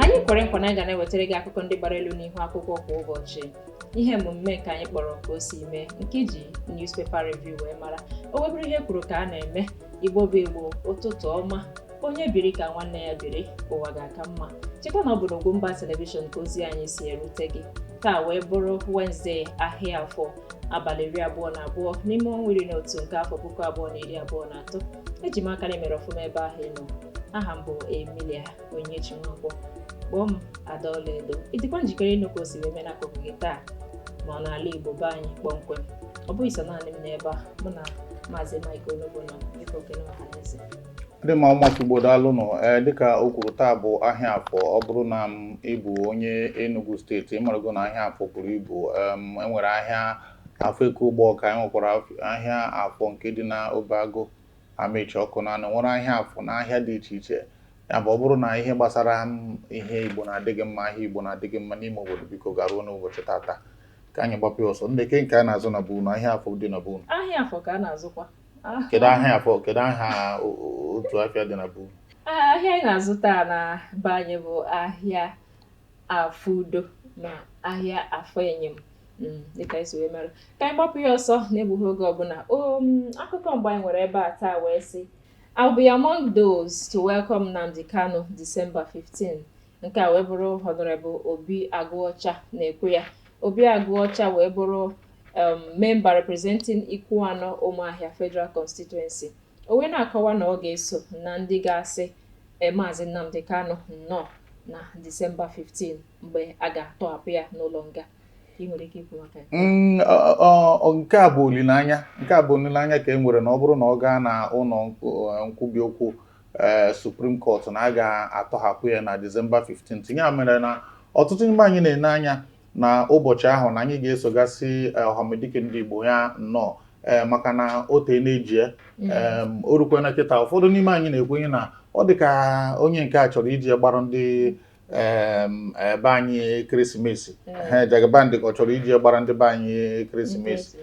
anyị kwere nkwa na anyị ga na-ewetara gị akụkọ ndị gbara elu n'ihu akwụkwọ kwa ụbọchị ihe emume nke anyị kpọrọ ka o si mee nke e ji newspaper review wee mara o wee bụrụ ihe e kwuru ka a na-eme igbo bụ igbo ụtụtụ ọma onye biri ka nwanne ya biri ụwa ga-aka mma cheta na ọ bụ n'Ugwumba telivishọn ka ozi anyị si erute gị taa wee bụrụ Wenezdee ahịa afọ abalị iri abụọ na abụọ n'ime ọnwa iri na otu nke afọ puku abụọ na iri abụọ na atọ eji m aka na i mere ọfụma ebe ahụ ị nọ aha m bụ Emilia Onyinyechi Nwankwo kpọọ m ada ọlaedo ị dịkwa njikere ịnụ ka o si wee mee n'akụkụ gị taa ma n'ala Igbo be anyị kpọmkwem ọ bụghị sọ naanị m n'ebe a mụ na maazị Mike Onugbu nọ dịka okenye ọhaneze ndị ma ụmụaka igbo daalụnụ ee dịka o kwuru taa bụ ahịa afọ ọ bụrụ na m ị bụ onye Enugu state ị marago na ahịa afọ buru ibu em, enwere ahịa afọ nke Ugbọka enwekwara af- ahịa afọ nke dị na Obeagụ Amaechi Ọkụnanọ nwere ahịa afọ na ahịa dị iche iche ya bụ ọ bụrụ na ihe gbasara m ihe igbo na-adị gị mma ahịa igbo na-adị gị mma n'ime obodo biko garuo n'ụbọchị tata ka anyị gbapụ ya ọsọ ndị ke nke a na-azụ na be unu ahịa afọ dị na be unu ahịa afọ ka a na-azụkwa kedu ahịa afọ kedu aha o- o- otu afịa dị na be Ah, ahịa anyị na-azụta na be anyị bụ ahịa afọ udo na ahịa afọ enyem Mm, dịka esi wee mere ka anyị gbapụ ya ọsọ na-egbughị oge ọbụla o mm, akụkọ mbụ anyị nwere ebe a taa wee sị I'll be among those to welcome Nnamdi Kanu December 15th Nke a wee bụrụ Honorable Obi Agụọcha na-ekwu ya. Obi Agụọcha wee bụrụ um, member representing Ikwuanọ Ụmụahịa Federal Constituency. O wee na-akọwa na ọ ga-eso na ndị ga-asị e, Maazị Nnamdi Kanu nnọọ na Disemba 15 mgbe a ga-atọhapụ ya n'ụlọ nga. Ị nwere ike ikwu maka ya? Mm, ọ- ọ- ọ- nke a bụ olileanya nke a bụ olileanya ka e nwere na ọ bụrụ na ọ gaa na ụlọ nk- eh, nkwubi okwu ee eh, Supreme Court na a ga-atọhapụ ya na Disemba 15th ya mere na ọtụtụ n'ime anyị na-ene anya na ụbọchị ahụ na anyị ga-eso gaa sị eh, ọhamadike ndị Igbo ya nnọọ ee eh, maka na o teena e ji ya mm. o rukwana kịta ụfọdụ n'ime anyị na-ekwenye na ọ dị ka onye nke a chọrọ iji ya gbara ndị be anyị ekeresimesi Jagaban dị ka ọ chọrọ iji gbara ndị be anyị ekeresimesi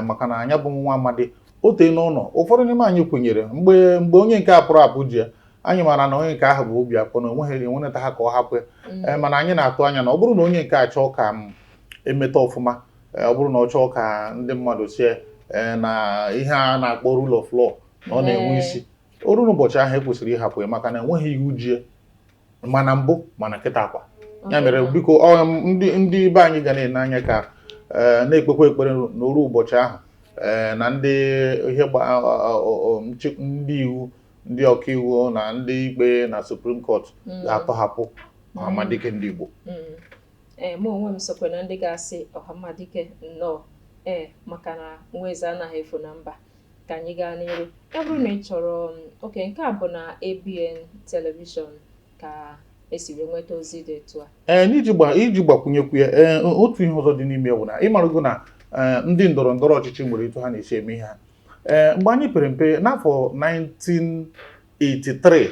maka na nya bụ nwa amadi o teena ọ nọ ụfọdụ n'ime anyị kwenyere mgbe mgbe onye nke a pụrụ apụ ji ya anyị maara na onye nke ahụ bụ obi akpọ na onweghị enweneta ha ka ọ hapụ mm. eh, mana anyị na-atụ anya na ọ bụrụ na onye nke a chọọ ka m emeta ọfụma eh, ọ bụrụ na ọ chọọ ka ndị mmadụ sị eh, na ihe a na-akpọ rule of law na ọ na-enwe isi o ruo ụbọchị ahụ ekwesịrị ịhapụ ya maka na enweghị iwu ji ya ma na mbụ ma na kịtaakwa ya mere biko ndị ndị be anyị ga na-ene anya ka eh, na-ekpekwa ekpere na o ru ụbọchị ahụ eh, na ndị ihe ndị iwu ndị ọkaiwu na ndị ikpe na Supreme Court mm. ga-atọhapụ ọhamadike mm. ndị Igbo mm. eh, mụ onwe m sokwe na ndị ga-asị ọhamadike nnọọ ee maka na nwa eze anaghị efu na mba ka anyị gaa n'iru ya bụrụ na ị chọrọ um, okay nke a bụ na ABN Television ka e si wee nweta ozi dị etu a ee n'iji gba iji gbakwunyekwu ya ee otu ihe ọzọ dị n'ime bụ na ị marago na ee, ndị ndọrọ ndọrọ ọchịchị nwere etu ha na-esi eme ihe ha ee mgbe anyị pere mpe n'afọ 19 83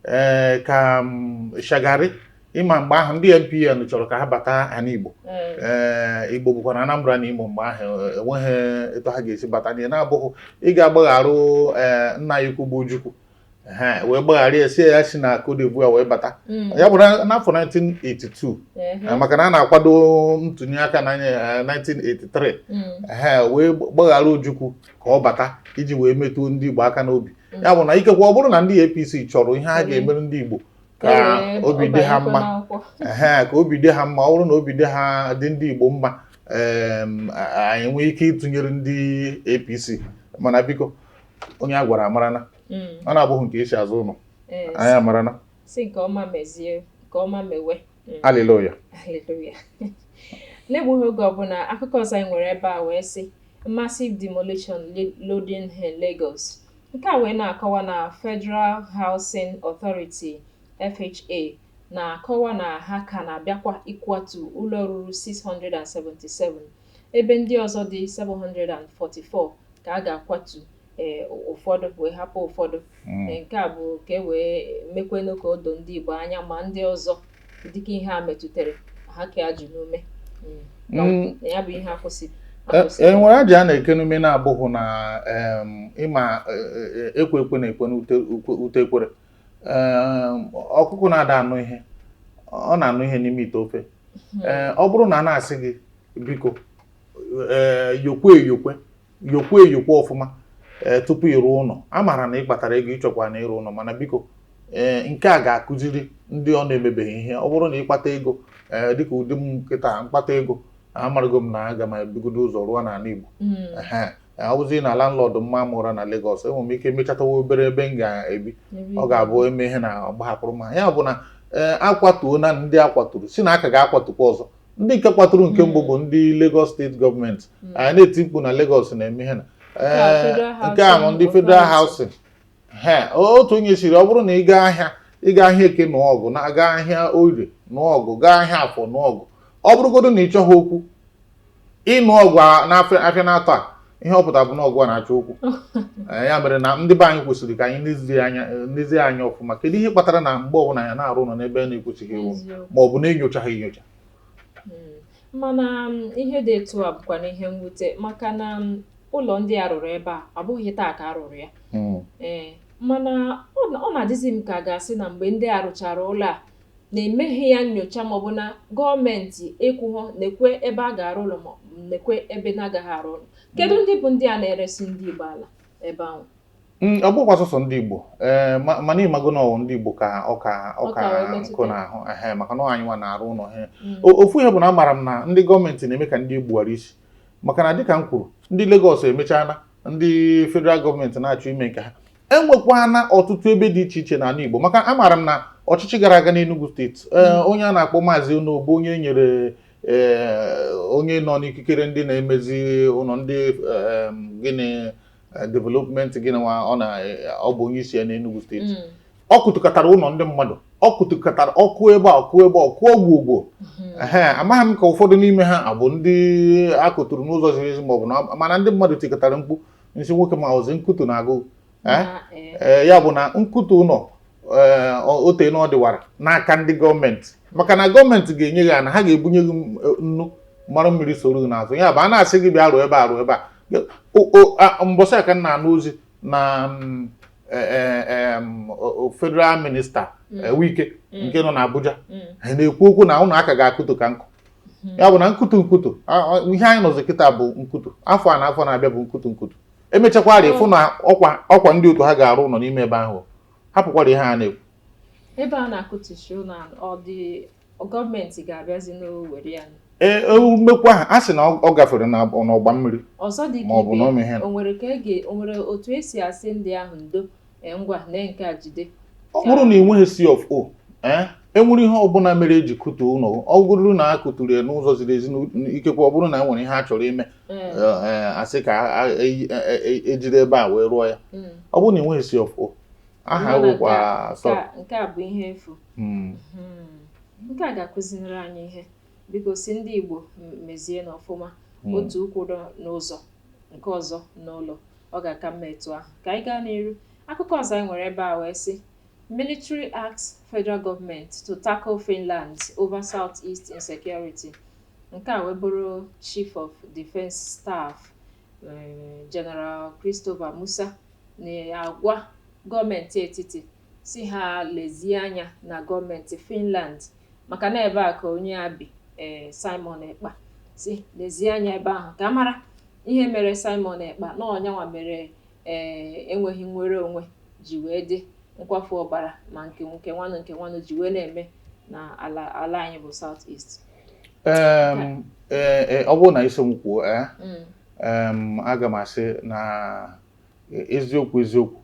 ee eh, ka mm, Shagari ị ma mgbe ahụ ndị NPN chọrọ ka ha bata ana Igbo ee eh, Igbo bụkwa na Anambra na Imo mgbe ahụ eh, enweghị etu ha ga-esi bata n'ihe na-abụghị ị ga-agbagharụ ee nna anyị ukwu bụ Ojukwu ha wee gbaghara ya sị ya si na Cote d'Ivoire wee bata mm. ya bụ n'afọ 1982 eh, maka na a na-akwado ntụnye aka na 1983 ha wee gbaghara Ojukwu ka ọ bata iji wee metụo ndị Igbo aka n'obi ya bụ na ikekwe ọ bụrụ na ndị APC chọrọ ihe a ga-emere ndị Igbo ka obi dị ha mma ee ka obi dị ha mma ọ bụrụ na obi dị ha dị ndị Igbo mma anyị nwee ike ịtụnyere ndị APC mana biko onye a gwara amarana mm. ọ na-abụghị nke e si azụ ụlọ anyị amarana si nke ọma mezie nke ọma mewe Haleluya. Haleluya. N'egbughị oge ọbụla akụkọ ọzọ anyị nwere ebe a wee sị massive demolition loading in Lagos. Nke a wee na-akọwa na Federal Housing Authority FHA na-akọwa na ha ka na-abịakwa ịkwatu ụlọ ruru 677 ebe ndị ọzọ dị 744 ka a ga-akwatu e, ụfọdụ wee hapụ ụfọdụ mm. e, nke a bụ ka e wee mekwenụ ka o doo ndị Igbo anya ma ndị ọzọ dịka ihe a metụtara ha kee ajị n'ume mm. ya bụ ihe a kwụsị e nwere e, ajị a na-eke n'ume na-abụghị na ị ma ekwe ekwe na-ekwe n'ute ekwere ọkụkụ na-ada anụ ihe ọ na-anụ ihe n'ime ite ofe hmm. ọ bụrụ na a na-asị gị biko yokwe eyokwe yokwa eyokwa ọfụma ee eh, tupu ịrụ ụlọ a maara na ị kpatara ego ị chọkwa na ịrụ ụlọ mana biko ee eh, nke a ga-akụziri ndị ọ na-emebeghị ihe ọ bụrụ na ị kpata ego ee eh, dịka ụdị m kịta m kpata ego amarụgo m na aga m ebugodo ụzọ rụọ n'ala Igbo hmm. ọ bụzi na landlord maa m ụra na Lagos enwere m ike mechatawa obere ebe m ga-ebi ọ ga-abụ eme ihe na ọ gbahapụrụ m ya bụ na ee a kwatuo na ndị akwaturu sị na a ka ga-akwatukwa ọzọ ndị nke kwaturu nke mbụ bụ ndị Lagos steeti gọọmenti anyị na-eti mkpu na Lagos na-eme ihe na nke a bụ ndị Federal Housing he otu onye sịrị ọ bụrụ na ị gaa ahịa ị gaa ahịa eke nụọ ọgụ na gaa ahịa orie nụọ ọgụ gaa ahịa afọ nụọ ọgụ ọ bụrụgodu na ị chọghị okwu ị nụọ ọgụ n'afịa naatọ a ihe ọ pụtara bụ na ọ gịwa na-achọ okwu eh, ya mere na ndị be anyị kwesịrị ka anyị nezie eh, anya ọfụma kedu ihe kpatara na mgbe ọbụla ya na-arụ ụlọ n'ebe a na-ekwesịghị ewu ma ọ bụ na-enyochaghị enyocha hmm. mana um, ihe dị etu a bụkwanụ ihe mwute maka na um, ụlọ ndị a rụrụ ebe a abụghị taa ka a rụrụ ya hmm. ee eh, mana ọ na-adịzi m ka a ga-asị na mgbe ndị a rụchara ụlọ a na emeghị ya nyocha maọbụ na gọọmenti ekwughọ nekwa ebe a ga-arụ ụlọ ma nekwa ebe na-agaghị arụ ụlọ kedu ndị bụ ndị a na-eresị ndị Igbo ala ebe ahụ mm, ọ bụkwa sọsọ ndị Igbo ee mana ị mago na ọ wụ ndị Igbo ka ọka ọka nkụ n'ahụ ehe maka na ọ wụ anyị nwa na-arụ ụlọ he mm. ofu ihe bụ na amaara m na ndị gọọmenti na-eme ka ndị Igbo ghara isi maka na dịka m kwuru ndị Lagos emechala ndị federal gọọmenti na-achọ ime nke ha enwekwana ọtụtụ ebe dị iche iche n'ala Igbo maka amaara m na ọchịchị gara aga n'Enugu steeti e, hmm. onye a na-akpọ maazị Onoh bụ onye nyere e, onye nọ n'ikikere ndị na-emezi ụlọ ndị e, gịnị development gịnị nwa ọ na ọ bụ onye isi ya n'Enugu steeti hmm. ọ kụtukatara ụlọ ndị mmadụ ọ kụtukatara ọ kụọ ebe a ọ kụọ ebe ọ kụọ ogwu ogwo hmm. amaghị m ka ụfọdụ n'ime ha abụ ndị a kụturu n'ụzọ ziri ezi maọbụ na mana ndị mmadụ tikatara mkpu na-asị nwoke m ọ zị nkutu na-agụ eh? Eh. Eh, ya bụ na nkutu ụlọ o teena ọ dịwara n'aka ndị gọọmenti maka na gọọmenti ga-enye gị ana ha ga-ebunye gị nnu mara mmiri soro gị n'azụ ya bụ a na-asị gị bịa rụọ ebe a rụọ ebe a mbọsị ka m na-anụ ozi na mm, federal minista mm. Wike mm. nke nọ n'Abuja na-ekwu okwu na ụlọ a ka ga-akụtu ka nkụ ya bụ na nkutu nkutu ihe anyị nọzi kịta bụ nkutu afọ a na afọ na-abịa bụ nkutu nkutu emechakwara ị fụ na ọkwa ọkwa ndị otu ha ga-arụ ụlọ n'ime ebe ahụ hapụkwara ihe a na-ekwu ebe a na-akụtucha ụlọ ndị gọọmenti ga-abịazi na-ewere ya ee e, mmekwa ahụ a sị na ọ gafere n'ọgba mmiri ọzọ dị ka ibe o nwere otu e si asị ndị ahụ ndo Ee, ngwa lee nke a jide ọ bụrụ na ị nweghị C of O ee enwere ihe ọbụla mere eji kụtuo ụlọ ọ bụrụ na a kụturu ya n'ụzọ ziri ezi ikekwe ọ bụrụ na e nwere ihe a chọrọ ime asị ka ejiri ebe a wee rụọ ya hmm. ọ bụrụ na ị nweghị C of O aha rụkwa sọ nke a bụ ihe efu hmm. Hmm. nke a ga-akụziri anyị ihe biko sị ndị Igbo mezienụ ọfụma otu ụkwụ dị n'ụzọ nke ọzọ n'ụlọ Ọ ga-aka mma etu ahụ. Ka anyị gaa n'iru. Akụkọ ọzọ anyị nwere ebe a wee sị, Military asks Federal Government to tackle Finland over Southeast insecurity. Nke a wee bụrụ Chief of Defence Staff General Christopher Musa na-agwa gọọmenti etiti sị ha lezie anya na gọọmenti Finland maka na ebe a ka onye a bi ee Simon Ekpa sị lezie anya ebe ahụ ka a mara ihe mere Simon Ekpa na ọ nyanwa mere ee enweghị nnwere onwe ji wee dị nkwafu ọbara ma nke nke nwanụ nke nwanụ ji wee na-eme na ala ala anyị bụ South East Em, eh, eh, ọ bụrụ na ị sị m kwuo eh, Mm. em, aga m asị na E- eziokwu eziokwu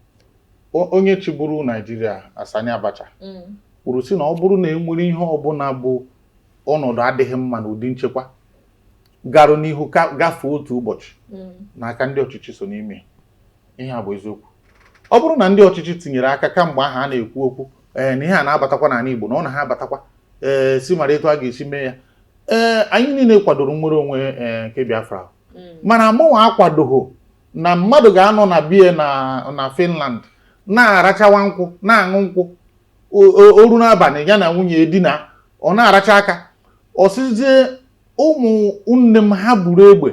O- onye chịburu Naijiria Sani Abacha Mm. kwuru sị na ọ bụrụ na e nwere ihe ọbụla bụ ọnọdụ adịghị mma na ụdị nchekwa garụ n'ihu gafee otu ụbọchị Mm. na aka ndị ọchịchị so n'ime ya. ihe a bụ eziokwu ọ bụrụ na ndị ọchịchị tinyere aka kamgbe ahụ a na-ekwu okwu ee na ihe a na-abatakwa n'ala Igbo na ọ na-abatakwa ee sị mara etu a ga-esi mee ya ee anyị niile kwadoro nnwere onwe ee nke Biafra Mm. mana mụnwa akwadoghị na mmadụ ga-anọ na bie na na Finland na-arachawa nkwụ na-aṅụ nkwụ o ruo n'abalị ya na nwunye edina ọ na-aracha aka ọ sịzie ụmụ nne m ha buru egbe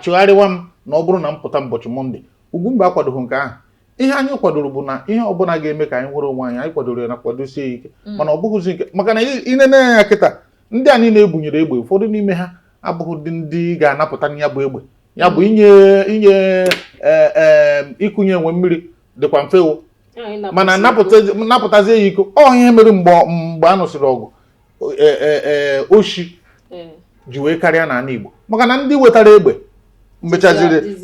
chụgharịwa m na ọ bụrụ na m pụta ụbọchị Mọnde Ugwumba akwadoghị nke ahụ ihe anyị kwadoro bụ na ihe ọbụla ga-eme ka anyị nwere onwe anyị anyị kwadoro ya na kwadosie ike mm. mana ọ bụghịzi nke maka na i nene ya kịta ndị a niile e bunyere egbe ụfọdụ n'ime ha abụghị ndị ndị ga-anapụta ya bụ egbe ya bụ inye inye e, e, ịkụnye enwe mmiri dịkwa mfe o mana napụtazie ya iko ọ ihe mere mgbe mgbe a nụsịrị ọgụ e, oshi ji wee karịa n'ala Igbo maka na ndị wetara egbe mechaziri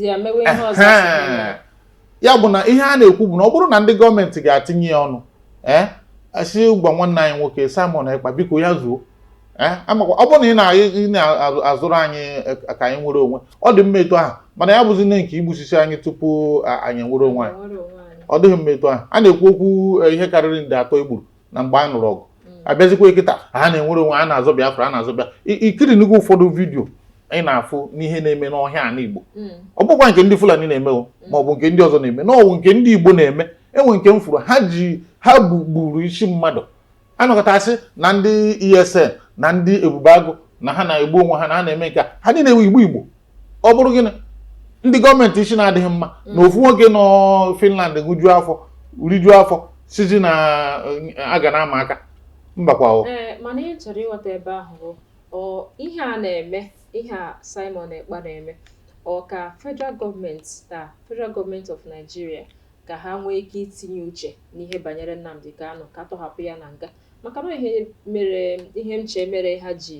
ya bụ na ihe a na-ekwu bụ na ọ bụrụ na ndị gọọmenti ga-atinye ya ọnụ ee eh, a sị gwa nwanne anyị nwoke Simon Ekpa biko ya zuo eh, amakwa ọ bụrụ na ị na-azọrụ anyị eh, ka anyị nwere onwe ọ dị mma etu ahụ mana ya bụzinụ nke igbusisi anyị tupu anyị nwere onwe anyị ọ dịghị mma etu ahụ a na-ekwu okwu ihe karịrị nde atọ e gburu na mgbe a nụrụ ọgụ mm. a bịazikwa kịta a na nnwere onwe a na-azọ Biafra a na-azọ bịa i kirinugo ụfọdụ vidiyo ị na-afụnụ ihe na-eme n'ọhịa ala Igbo mm. ọ bụkwa nke ndị Fulani na-eme mm. ma ọ bụ nke ndị ọzọ na-eme na ọ wụ nke ndị Igbo na-eme e nwee nke m fụrụ ha ji ha gburu isi mmadụ a nọkọta sị na ndị ESN na ndị Ebube Agụ na ha na-egbu onwe ha na ha na-eme nke ha niile wụ Igbo Igbo ọ bụrụ gịnị ndị gọọmenti isi na-adịghị mma mm. na ofu nwoke nọ Finland ṅụjuo afọ rijuo afọ sizi na eh, a ga na-ama aka mbakwa eh, mana ihe m chọrọ ịghọta ebe ahụ ihe a na-eme ihe a Simon Ekpa na-eme ọ ka federal gọọmenti na federal gọọmenti of Nigeria ka ha nwee ike itinye uche n'ihe banyere Nnamdi Kanu ka a tọhapụ ya na nga maka na ihe mere ihe m chee mere ha ji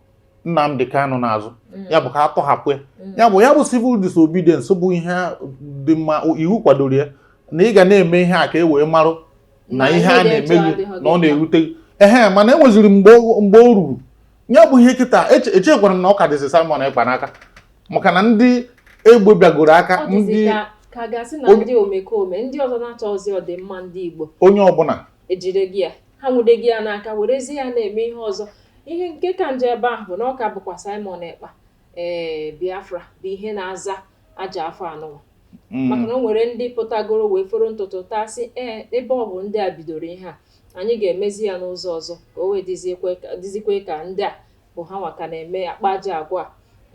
Nnamdi Kanu n'azụ mm. ya bụ ka a tọhapụ ya mm. ya bụ ya bụ civil disobedience bụ ihe dị mma iwu kwadoro ya na ị ga na-eme ihe a ka e wee marụ na ihe a na-eme gị na ọ na-erute gị ehe mana enweziri mgbe o ruru ya bụ ihe kịta echekwara m na ọ ka dịzi Simon Ekpa n'aka maka na ndị egbe bịagoro aka ndị ka gasị na ndị omekome ndị ọzọ na-achọrọ ọdịmma ndị Igbo onye ọbụla ejirigo ya ha nwudego ya n'aka werezie ya na-eme ihe ọzọ ihe nke ka njọ ebe ahụ bụ na ọ ka bụkwa Simon Ekpa ee Biafra bụ ihe na-aza ajọ afa anụwa mm. maka na o nwere ndị pụtagoro wee foro n'ụtụtụ taa sị ee ebe ọ bụ ndị a bidoro ihe a anyị ga-emezi ya n'ụzọ ọzọ ka o wee dịzikwe ka ndị a bụ ha nwa ka na-eme akpa ajọ agwa a.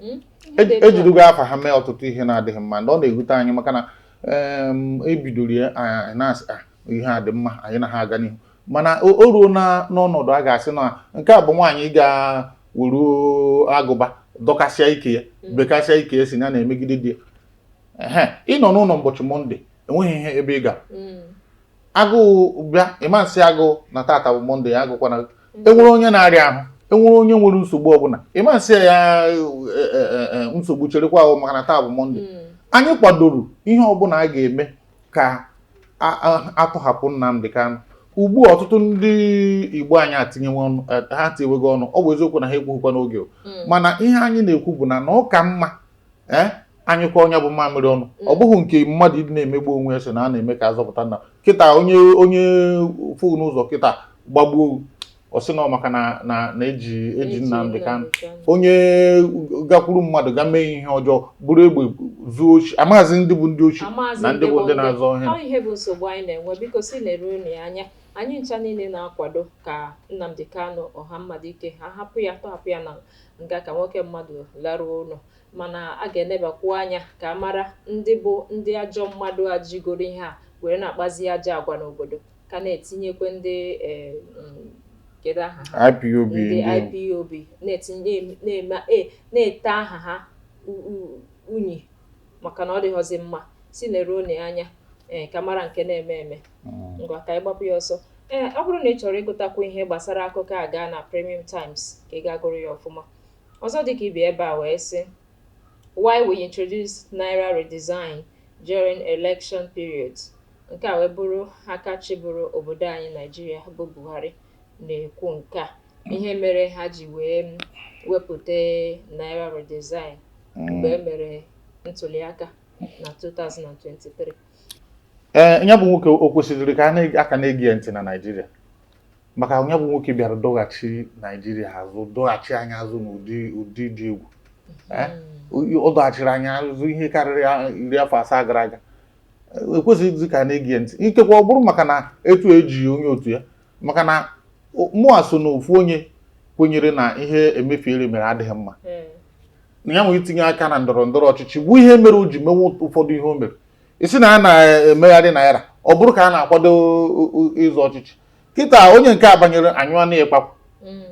Mm? Ihe dị etu a. ejidugo afa ha mee ọtụtụ ihe na-adịghị mma and ọ na-ewute anyị maka na em, e bidoro ya anyị na-asị "Ah, ihe a dị mma anyị na ha aga n'ihu mana o o ruo na n'ọnọdụ a ga-asị na nke a bụ nwaanyị ga wuru agụba dọkasịa ike ya bekasịa ike ya sị ya na-emegide di ya ehe ịnọ n'ụlọ ụbọchị mọnde enweghị ihe ebe ị ga Mm. agụụ bịa ị ma asị agụụ na tata bụ monde ya agụkwana e nwere onye na-arịa ahụ e nwere onye nwere nsogbu ọbụla ị ma asị ya e, e, e, nsogbu cherekwa o maka na taa bụ monde hmm. anyị kwadoro ihe ọbụla a ga-eme ka a tọhapụ Nnamdi Kanu ugbu a ọtụtụ ndị Igbo anyị etinyewe ọnụ ha etiwego ọnụ ọ bụ eziokwu na ha ekwughịkwa n'oge hmm. mana ihe anyị na-ekwu bụ na na ọ ka mma ee eh? anyụkwa onye bụ mamịrị ọnụ mm. ọ bụghị nke mmadụ ịdị na-emegbu onwe ya sị na a na-eme ka a zọpụta nna kịta onye onye fụ n'ụzọ kịta gbagbuo ọ sị na maka na na e ji e ji Nnamdi Kanu onye gakwuru mmadụ ga mee ihe ọjọọ buru egbe zuo oshi a maghịzi ndị bụ ndị oshi na ndị bụ ndị na-azọ ihe bụ nsogbu anyị na-enwe biko si na-edo unu anya anyị ncha niile na-akwado ka Nnamdi Kanu ọha mmadụ ike ha hapụ ya tọhapụ ya na nga ka nwoke mmadụ laruo ụlọ. Mana a ga-enebakwu anya ka a mara ndị bụ ndị ajọ mmadụ a jigoro ihe a were na-akpazi ajọ agwa n'obodo, ka na-etinyekwa ndị um kedu aha ha? IPOB ndị ndị IPOB na-etinye na-eme e na-ete aha ha u- u- unyi maka na ọ dịghọzi mma sị neruo na anya ee ka a mara nke na-eme eme mm. ngwa ka anyị gbapụ ya ọsọ ee ọ bụrụ na ị chọrọ ịgụtakwu ihe gbasara akụkọ a gaa na Premium Times ka ị ga gụrụ ya ọfụma ọzọ dịka ibe ebe a wee sị why we introduce naira redesign during election period nke a wee bụrụ aka chịburu obodo anyị Naijiria bụ Buhari na-ekwu nke a ihe mere ha ji wee wepụta naira redesign mgbe e mere ntuliaka na 2023 ee nya bụ nwoke o kwesịrị ka a ka na-ege ya ntị na naijiria maka nya bụ nwoke bịara dọghachi naijiria azụ dọghachi anyị azụ n'ụdị ụdị dị egwu ọ dọghachiri anyị azụ ihe karịrị iri afọ asaa gara aga ekwesịghịzi ka a na-ege ya ntị ikekwa ọ bụrụ maka na etu e ji onye otu ya maka na o- mụa so na ofu onye kwenyere na ihe Emefiele mere adịghị mma Mm. na ya nwere itinye aka na ndọrọ ndọrọ ọchịchị bụ ihe mere o ji mewe ụfọdụ ihe o mere ị sị na a na-emegharị naira ọ bụrụ ka a na-akwado o- o- ịzọ ọchịchị kịta onye nke a banyere anyụọ na ịkpakwa mm.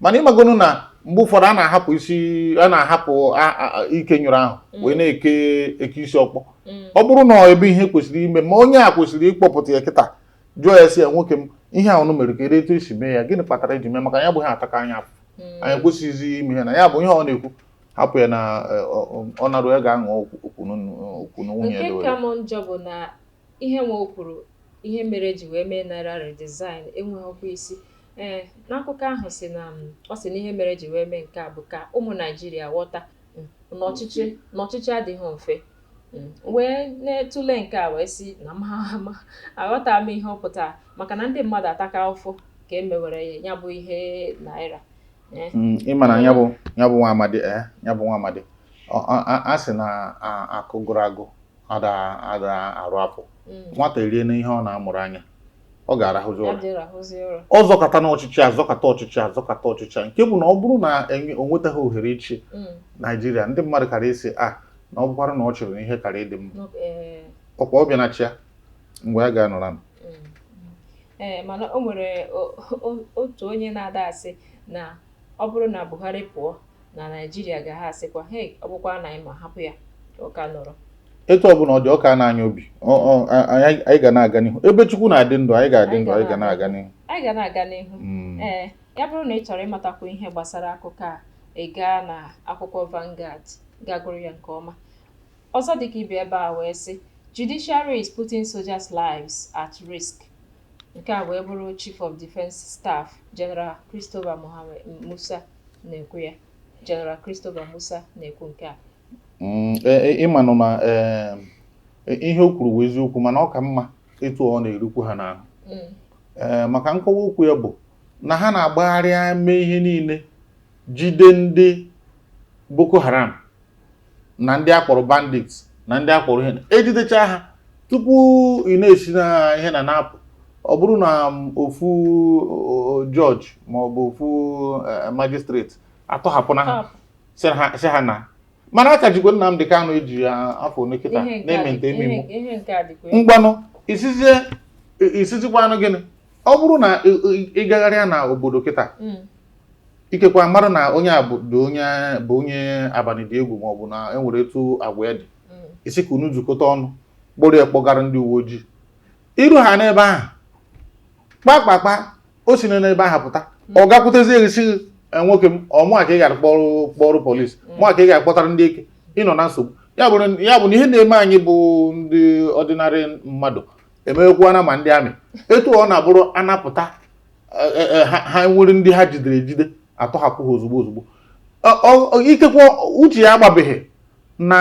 mana ịmagonu na mgbe ụfọdụ a na-ahapụ isi a na-ahapụ ike nyụrụ ahụ mm. wee na-eke eke isi ọkpọ mm. ọ bụrụ na ebe ihe kwesịrị ime ma onye a kwesịrị ịkpọpụta ya kịta jụọ ya sị ya nwoke m ihe a unu mere kedụ etu e si mee ya gịnị kpatara i ji mee maka ya bụ ihe ataka anyị afụfụ anyị kwesịghịzi ime ihe na ya bụ ihe ọ na-ekwu hapụ ya na e, ọ narụ ya ga-aṅụ okwu na nwunye ya Ihe nwa o kwuru ihe mere e ji wee mee naira redesign enweghịkwa isi. Ee, n'akụkọ ahụ sị na um, ọ sị na ihe mere e ji wee mee nke a bụ ka ụmụ Naijiria ghọta um, na ọchịchị na ọchịchị adịghị mfe. Um, wee na-etụle nke a wee sị na m ama aghọta m ihe ọ pụtara maka na ndị mmadụ ataka ụfụ ka e mewere ya ya bụ ihe naira. Eh. Mm, ị ma na ya bụ ya bụ nwa amadi eh, ya bụ nwa amadi a sị na akụ gụrụ agụ ada ada arụ afọ mm. nwata eriena ihe ọ na-amụrụ anya ọ ga-arahụzi ụra ọ zọkatana ọchịchị azọkata ọchịchị azọkata ọchịchị nke bụ na ọ bụrụ na o nwetaghị ohere ịchị mm. naijiria ndị mmadụ kara ịsị a ah, na ọ bụkwara na ọ chịrị na ihe kara ịdị mma eh. ọ kwa ọ bịana chịa mgbe a ga-anọra m mm. ee eh, mana o nwere otu onye na-ada asị na ọ bụrụ na Buhari pụọ na naijiria ga ha asịkwa hei ọ bụkwa na anyị ma hapụ ya ka ọ ka nọrọ etu ọbụla ọ dị ọ ka na-anya obi anyị ga na-aga n'ihu ebe chukwu na-adị ndụ anyị ga-adị ndụ anyị ga na-aga n'ihu anyị ga na-aga n'ihu hmm. ee ya bụrụ na ị chọrọ ịmatakwu ihe gbasara akụkọ a ị gaa na akwụkwọ Vanguard ga gụrụ ya nke ọma ọzọ dịka ibe ebe a wee sị judiciary is putting soldiers lives at risk nke a wee bụrụ chief of defence staff general Christopher Musa na-ekwu ya General Christopher Musa na-ekwu nke a mm, e, e, ịmanụ na e, ihe o kwuru bụ eziokwu mana ọ ka mma etu ọ na-erukwu ha n'ahụ mm. maka nkọwa okwu ya bụ na ha na-agbagharịa mee ihe niile jide ndị Boko Haram na ndị akpọrọ bandits na ndị akpọrọ ihe ejidecha ha tupu ị na-asị na ihe na na-apụ ọ bụrụ na m, ofu o, jọjị ma ọ bụ ofu eh, magistrate atọhapụna ha Tọhapụ. sị ha- sị ha naa mana a ka jikwa Nnamdị Kanụ eji ya afọ ole kịta Ihe nke a na-eme dị- nte eme ihe- imo ihe nke a dịkwa ngwanụ ị sịzie ị sịzikwanụ gịnị ọ bụrụ na ị- ị- ị gagharịa na obodo kịta Mm. ikekwa mara na onye a bụ dị onye bụ onye abalị dị egwu maọbụ na e nwere etu agwa ya dị ị sị ka unu zukọta ọnụ kpọrọ ya kpọgara ndị uwe ojii iru ha n'ebe ahụ kpakpakpa o si na n'ebe ahụ pụta ọ gakwutezie gị sị nwoke m ọ mụa ka ị gara kpọrọ kpọrọ polisi mụa ka ị gara kpọtara ndị ike ị nọ na nsogbu ya bụrụ ya bụ na ihe na-eme anyị bụ ndị ordinary mmadụ emewekwana ma ndị amị etu ọ na-abụrụ anapụta e, e, ha nwere ndị ha jidere ejide atọhapụ ha ozugbo ozugbo ikekwe uche ya agbabeghị na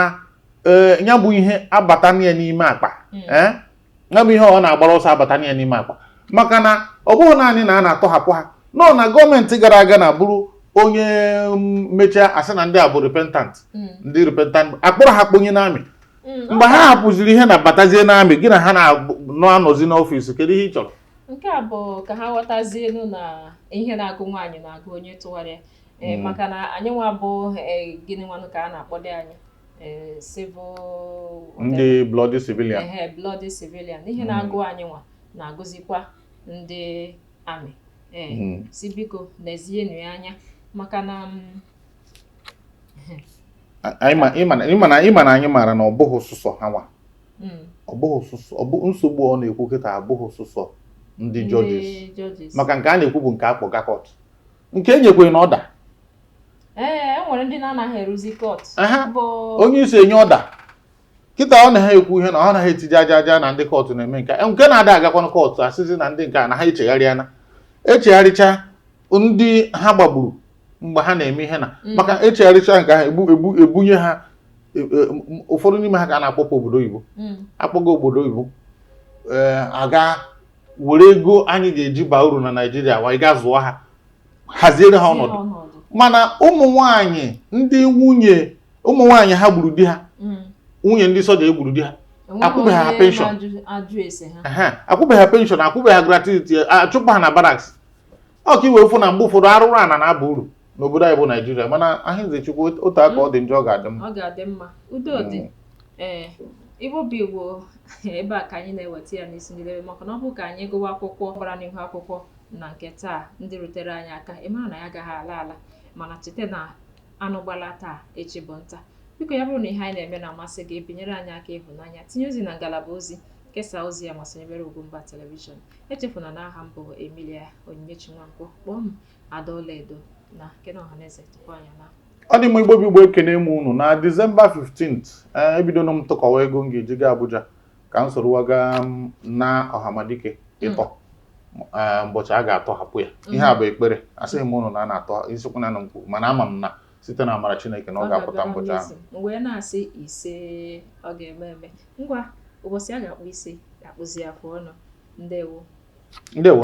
e, ya bụ ihe abata ya n'ime akpa hmm. ya bụ ihe ọ na-agbara ọsọ abata ya n'ime akpa maka na ọ bụghị naanị na a na-atọhapụ ha nọ na gọọmenti gara aga na bụrụ onye mm, mechaa a sị na ndị a bụ repentant hmm. ndị repentant akpọrọ ha kponye n'amị Mm, mgbe ha hapụziri ihe na batazie n'amị gị na ha na-anọzi n'ọfịs kedu ihe ị chọrọ nke a bụ ka ha ghọtazienụ na ihe na-agụ nwaanyị na-agụ onye tụwara ya eh, mm. maka na anyị nwa bụ eh, gịnị nwanụ ka a na-akpọdụ anyị eh, civil ndị bloody civilian bloody civilian ihe mm. na-agụ anyị nwa na-agụzikwa ndị amị ee mm. sị biko lezienụ ya anya maka na mm, ị ma na anyị maara na ọ bụghị sụsọ ha nwa hmm. nsogbu ọ na-ekwu kịta abụghị sụsọ ndị jọjis maka nke a na-ekwu bụ nke akpọga kọt nke e nyekwanụ na ọda ee e nwere ndị na-anaghị eruzi kọt onye isi enye ọda kịta ọ na ha ekwu ihe na ọ naghị etiji aja aja na ndị kọtụ na-eme nke e, nke na-ada agakwanụ kọtụ asịzi na ndị nke a na ha echegharịana echegharịcha ndị ha gbagburu mgbe ha na-eme ihe na mm. maka echegharịcha nke ha ebunye ha e, e, ụfọdụ n'ime ha ka a na-akpọpụ obodo oyibo mm. akpọga obodo oyibo eh, aga were ego anyị ga-eji baa uru na Naịjirịa wee ga zụọ ha haziere ha ọnọdụ mana ụmụ nwanyị ndị nwunye ụmụ nwanyị ha gburu di ha mm. nwunye ndị soja egburu di ha akwụbeghị ha penshọn akwụbeghị ha penshọn akwụbeghị ha gratuity achụpụ ha na baraks ọ ka iwe ụfụ na mgbe ụfọdụ arụrụ ana na-aba uru n'obodo anyị bụ naijiria mana ahịnze chukwu otu aka ọ dị njọ ọ ga-adị mma ọ ga-adị mma udo dị Mm. ee igbo bụ igbo ebe a ka anyị na-eweta ya n'isi njedebe maka na ọ bụ ka anyị gụwa akụkọ gbara n'ihu akwụkwọ na nke taa ndị rutere anyị aka ị mara na anyị agaghị ala ala mana cheta na Anụ gbala taa, echi bụ nta. Biko ya bụrụ na ihe anyị na-eme na-amasị gị, binyere anyị aka ịhụnanya, tinye ozi na ngalaba ozi, kesaa ozi a ma sonyebere Ugwumba Telivishọn. Echefuna na aha m bụ Emilia Onyinyechi Nwankwo, kpọọ m Ada Ọlaedo na-ekene Ọhaneze tupu anyị na ọ dị mma igbo bụ igbo ekene m unu na disemba 15 ee ebidono m tụkọwa ego m ga-eji gaa abuja ka m soro wa gaa na ọhamadike ịtọ mbọchị a ga-atọhapụ ya ihe a bụ ekpere asịghị m unu na a na-atọ ị sịkwa na m kwuru mana ama m na site n'amara Chineke na ọ ga-apụta mbọchị ahụ Igbo na-asị ise ọ ga-eme eme ngwa ụbọchị a ga-akpụ isi a ga-akpụzi afọ ọnụ ndewo ndewo